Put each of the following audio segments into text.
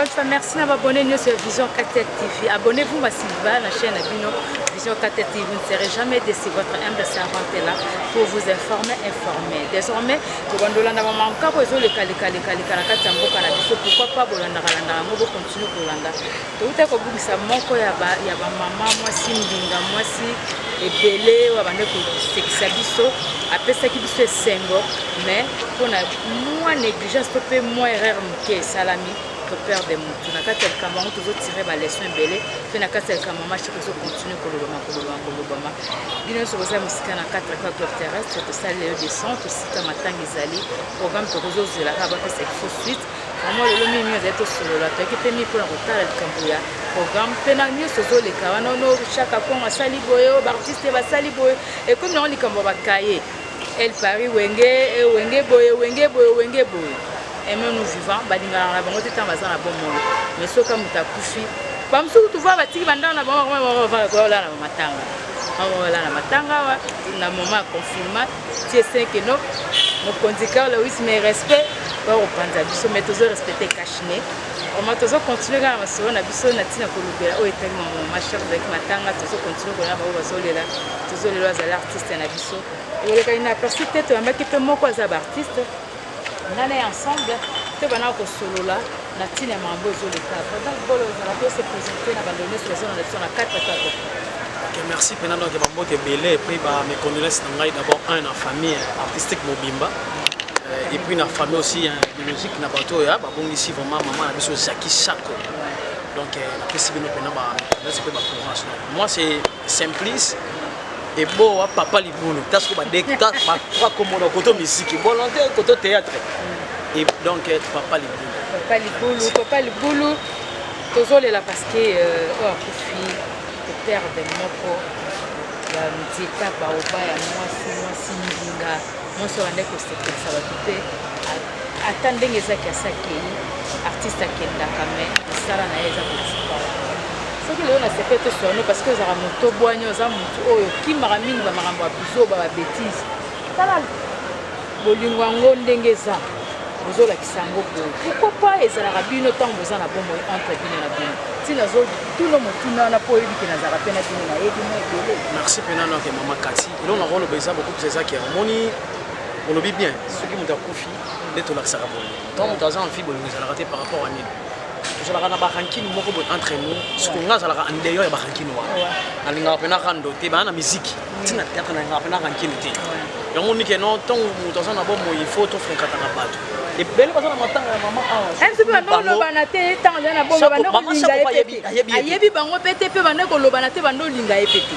Alpha, merci na babone nyonso ya Vision 4 TV. Abonnez-vous massivement à la chaîne Abino Vision 4 TV. Vous ne serez jamais déçu. Votre humble servante est là pour vous informer, informer. Désormais, le bandola na maman kako ezo le kali kali kali kala kati ya mboka na biso. Pourquoi pas bolanda kalanda yango Toujours Kolanda. Towuta kobungisa moko ya ba ya ba mama mwasi mbinga mwasi ebele oyo abande kosekisa biso apesaki biso esengo mais mpo na mwa négligence to mpe mwa erreur moke esalami toperde motu na kati ya likambo yango tozotire baleson ebele mpe na kati ya likambo yango mashiki ezokontinue kolobama kolobama kolobama bino nyonso boza mosika na 4 clob terrestre tosali leyo de son tosika matanga ezali programme tokozozela kaka bapesa kifo suite Vraiment lelo mingi mingi azali tosolola toyaki mpe mingi mpona kotala likambo ya programme mpe na nyonso ezoleka wana ono chaka kongo asali boye oyo baartiste basali boye ekomi nango likambo ya bakaye el paris wenge eh, wenge boye wenge boye wenge boye aimons nous vivant balingana na bango te ntango baza na bomoi mais soki moto akufi bamosusu tuva batiki bandako na bango bakola na bamatanga bakola na matanga awa na moment ya confinement tie 5 et non mokonzi carl lewis mais respect bakopanza biso mais tozo respecte cachine oma tozo continue kaka masolo na biso na ntina kolobela oyo etali mama machar ezalaki matanga tozo continue kolona bango bazolela tozolela azala artiste na biso olekaki na aperci te toyambaki mpe moko aza baartiste nga na ye ensemble tobanda kosolola na ntina ya makambo ezoleka donc bolo ozala mpe se présente na bando nyonso bazona na biso na 4 atako Okay, merci mpena donc ya bambote ebele epuis ba mes condoléances na ngai d'abord un na famille artistique mobimba euh, epuis na famille aussi ya biologique na bato oyo babongisi vraiment mama na biso zaki sako donc euh, napesi bino mpena ba condoléances mpe ba courage moi c'est Simplice eboa papa libulu ta soko badekta bakwa komona koto misiki bolonte koto théâtre et donc euh, papa libulu papa libulu papa libulu tozolela parce que euh, oyo akufi eperde moko ya nzeta baoba ya mwasi mwasi mbinga mwasi obandaki kosepelisa bato te Ata ndenge ezaki asi akei artiste akendaka me mosala na ye eza kotikala soki lelo na sepe toswano parce que ozalaka moto obwani oza motu oyo okimaka mingi bamakambo ya bizoba babetise tala bolingo yango ndenge eza bozolakisa yango boye pourkoi pa ezalaka bino ntango boza na bomoi entre bino na bino ntina azotuna motuna wana mpo oyebi ke nazalaka mpe na bino nayebi mwa ebele merci mpe nano ake mama kati elongo nakoloba eza bokopesa ezaki omoni olobi bien soki moto akufi nde tolakisaka boye ntango moto aza enfi bolingo ezalaka te par rapport ya nini tozalaka na barankine moko boye entre nous soki nga azalaka en dehors ya barankine wana nalingaka mpe nakando te baa na miziki ntina teatre nalingaka mpe narankine te yango nike no ntango moto aza na bomoi il faut tofrenkataka bato ebele baza na matanga ya mama awaolobana te ntango azali na bongo banda kolinga ye pete ayebi bango pete mpe banda kolobana te banda olinga ye pete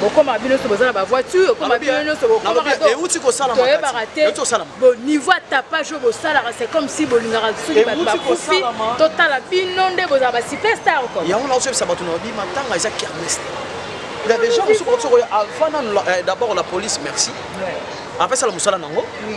bokoma bino nyonso boza na bavoiture okoma bino nyonso bokomauti kosalatoyebaka te niveau ya tapage oyo bosalaka c'est comme si bolingaka soki bato bakufi totala bino nde bozala basuperstar yango naosoyebisa bato na bima ntanga eza kermeste Il y a des gens qui sont euh, d'abord la police, merci. Ouais. Après ça, le moussala nango. Oui.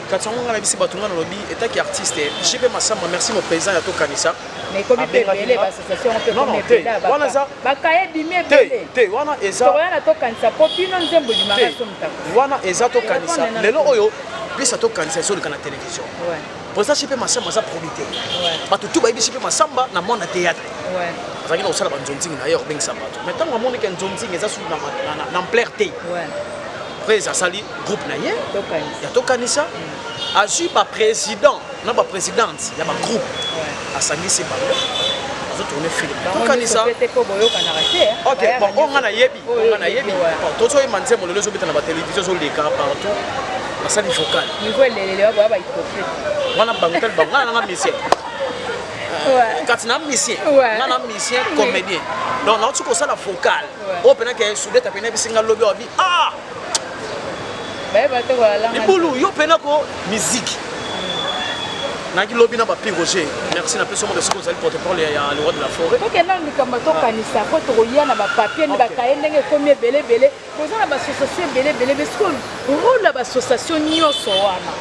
kati yango ngai nabisi bato ngai nalobi etaki artiste jp masamba merci mo président ya tokanisa te wana ezawana eza tokanisa lelo oyo pesa tokanisa ezoleka na télévision président jp masamba aza probité bato tu bayebi jp masamba na mwana théâtre azalaki na kosala banzonzingi na ye ya kobengisa bato mai ntango amonike nzonzingi eza sulu na ampleur te Prez asali groupe na ye ya tokanisa azwi baprésident na baprésidente ya bagroupe asangisi bango azotourne film tokanisa ok bon oyo nga nayebi oyo nga nayebi tozoyema nzembo lelo ezobeta na batelevizio ezoleka partout basali vocal wana bango tali bango nga nanga musicien kati na musicien nga na musicien comédien donc nauti kosala vocal oyo mpenake sudeta mpe nayebisi nga lobi Ah! libulu yo mpena ko miziki naki lobi na bapi roger merci na peso moko soki ozali porte-parole ya le roi de la forêt tokenda na likambo tokanisa mpo tokoya na bapapier nde bakaye ndenge ekomi ebele ebele boza na bassociation ebele ebele besoki role ya bassociation nyonso wana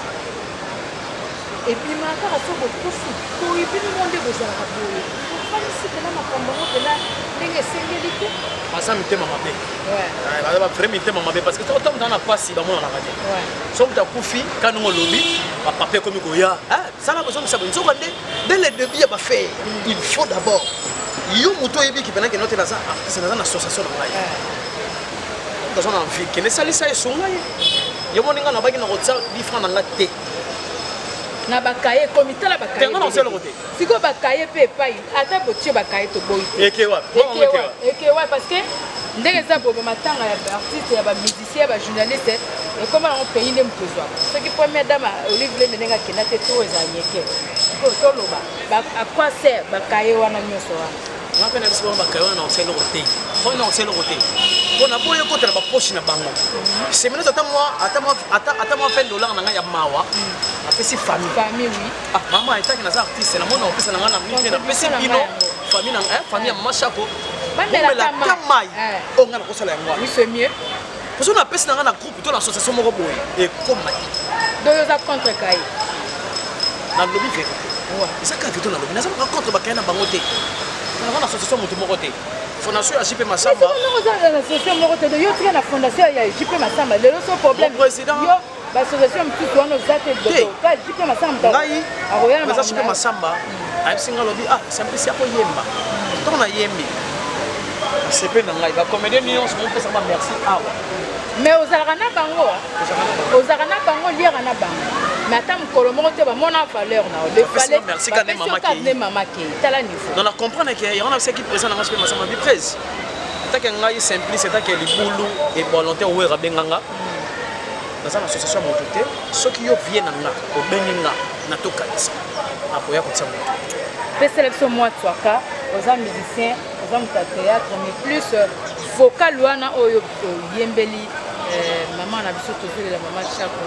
ebima kaka so bokufi boye bino mo nde bozalaka boye ofandisi mpena makambo yango mpena ndenge esengeli te baza mitema mabe eh, baza bavrai mitema mabe parce que otango tanga na mpasi bamonanaka te so moto akufi kanongo olobi bapapa ekomi koya eh, sala bozongisa boye nzoka nde dès le début ya bafai il faut d'abord yo moto oyebi kipenaki note naza artiste naza na association na ngai aza na vie kende esalisa ye sunga ye yo moni ngai nabaki nakotia difran na nga te na bakaye ekomi tala bakayeeloko te sikoyo bakaye mpe epai ata botie bakaye toboyi ekewa parce que ndenge eza bobe matanga ya baartiste ya bamusicien ya bajournaliste ekoma yango pays nde moto ezwaka soki première dame olive lembe ndenge akenda te to eza nyeke sikoyo toloba akwase bakaye wana nyonso wana nga mpe na biso bango bakaya wana nakotia eloko te mpona nakotia eloko te mpo na boye ekota na bapoche na bango seminaire ata mwa 20 dollar na ngai ya mawa apesi famille ah, mama etaki naza artiste na mona opesa na ngai na mite napesi bino famille ya mama shako bomelaka mai oyo ngai nakosala yango wana Parce que napesi na nga na groupe to na association moko boye ekoma te. Donc oza contre kai. Na lobi vérité. Ouais. Eza kaka to na lobi. Naza pas contre bakaya na bango te. Na nga na association moto moko te. Fondation ya JP Massamba. Mais oza na association moko te. Yo tika na fondation ya JP Massamba. Lelo so problème. Mon président. Yo ngai eza supe masamba ayebisi ngai alobi ah sambisi akoyemba ntango nayembi sepe na ngai bacomédien nyonso mopesa ba merci awa mais ozalaka na bango ozalaka na bango liaka na bango mais ata mokolo moko te bamona valeur na yolefaletne mama ke tala niveau non na comprendre ke yango na bisaki présent nango sope masamba biprese etake ngai simplice etake libulu ebolonte owera benganga naza na association ya moto te soki yo vie na nga obengi nga natokanisa nakoya kotia moto pesela biso mwa twaka oza musicien oza moto ya théâtre mais plus euh, vocal wana oyo oyembeli euh, mama na biso tozolela mama chako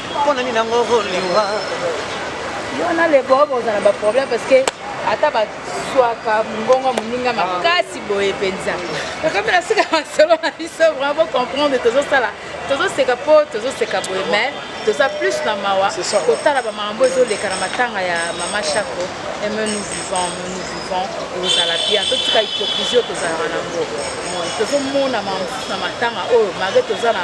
Pona nini nango liwa? Yo na lebo boza na ba problème parce que ata ba swaka mongongo moninga makasi boye mpenza tokomi na suka masolo na biso vraiment bocomprendre tozosala tozoseka mpo tozoseka boye mais toza plus na mawa kotala bamakambo ezoleka na matanga ya mama chako eme nous vivant nous vivant ekozala bien totika hypocrisie oyo tozalaka nango tozomona makambo mosusu na matanga oyo malgre toza na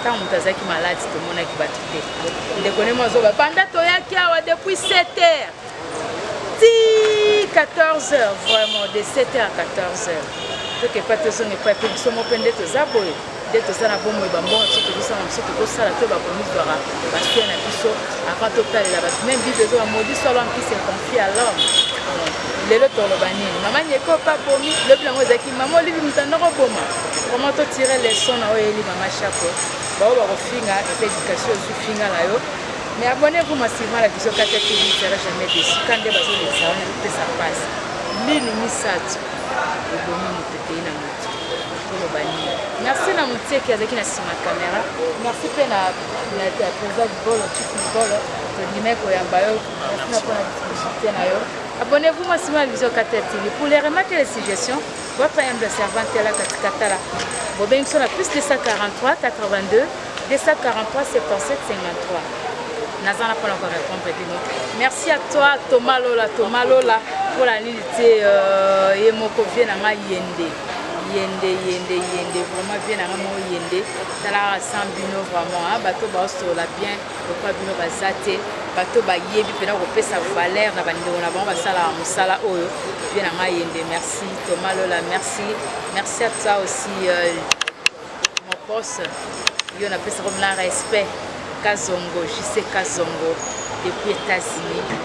ntango moto azalaki maladi tomonaki bato te ndeko nemo azoba banda toyaki awa depuis 7 heures ti 14 heures vraiment de 7 heures à 14 heures tokepa tozonga epai mpe biso mo mpe nde toza boye nde toza na bomoi bambongo biso tozosala biso tokosala to bakomizwaka basue na biso avant totalela bato meme bible ezoba modis solo ankisi econfie à l'homme lelo toloba nini mama nyeko papomi lobi yango ezalaki Maman Olive mutanda ko boma. Vraiment to tirer leçon na oyo eli maman Chapo. Ba oyo bakofinga eza education ozu finga na yo. Mais abonnez-vous massivement à la vision Katia TV, vous serez jamais déçu. Quand des bazo les gens, tout ça passe. Lini misatu. Obomi mutete na mutu. Toloba nini? Merci na muteki azaki na sima camera. Merci pe na na président du bolo, chief du bolo. Tondimeko ya bayo. Merci na pona discussion na yo. Abonnez-vous moi sur ma vision Katia TV pour les remarques et les suggestions. Votre humble servante à la Katikatala. Bobeng sur la plus 243 82 243 77 53. Nazan n'a pas encore répondre Dino. Merci à toi Thomas Lola Thomas Lola pour la ligne euh, et mon covier n'a pas yende. yende yende yende vraiment vie nanga mo yende tala sans bino vraiment bato baosola bien lokola bino baza te bato bayebi mpena kopesa valeur na bandeko na bango basalaka mosala oyo vie na ngai yende merci thomas lola merci merci à toi aussi euh, mon poste yo napesaka mla respect kazongo jise kazongo depuis états-unis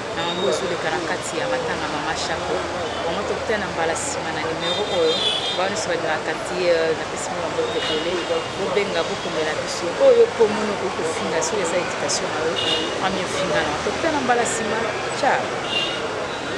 Na yango ezoleka na kati ya matanga Mama Shako. Vraiment tokutana mbala nsima na nimero oyo. Bango nyonso balingaka Katie, napesi mwa maboko ebele. Bobenga, bokomela biso. Oyo mpo omoni okoki kofinga soki eza education na yo, amiofinga na. Tokutana mbala nsima. Ciao.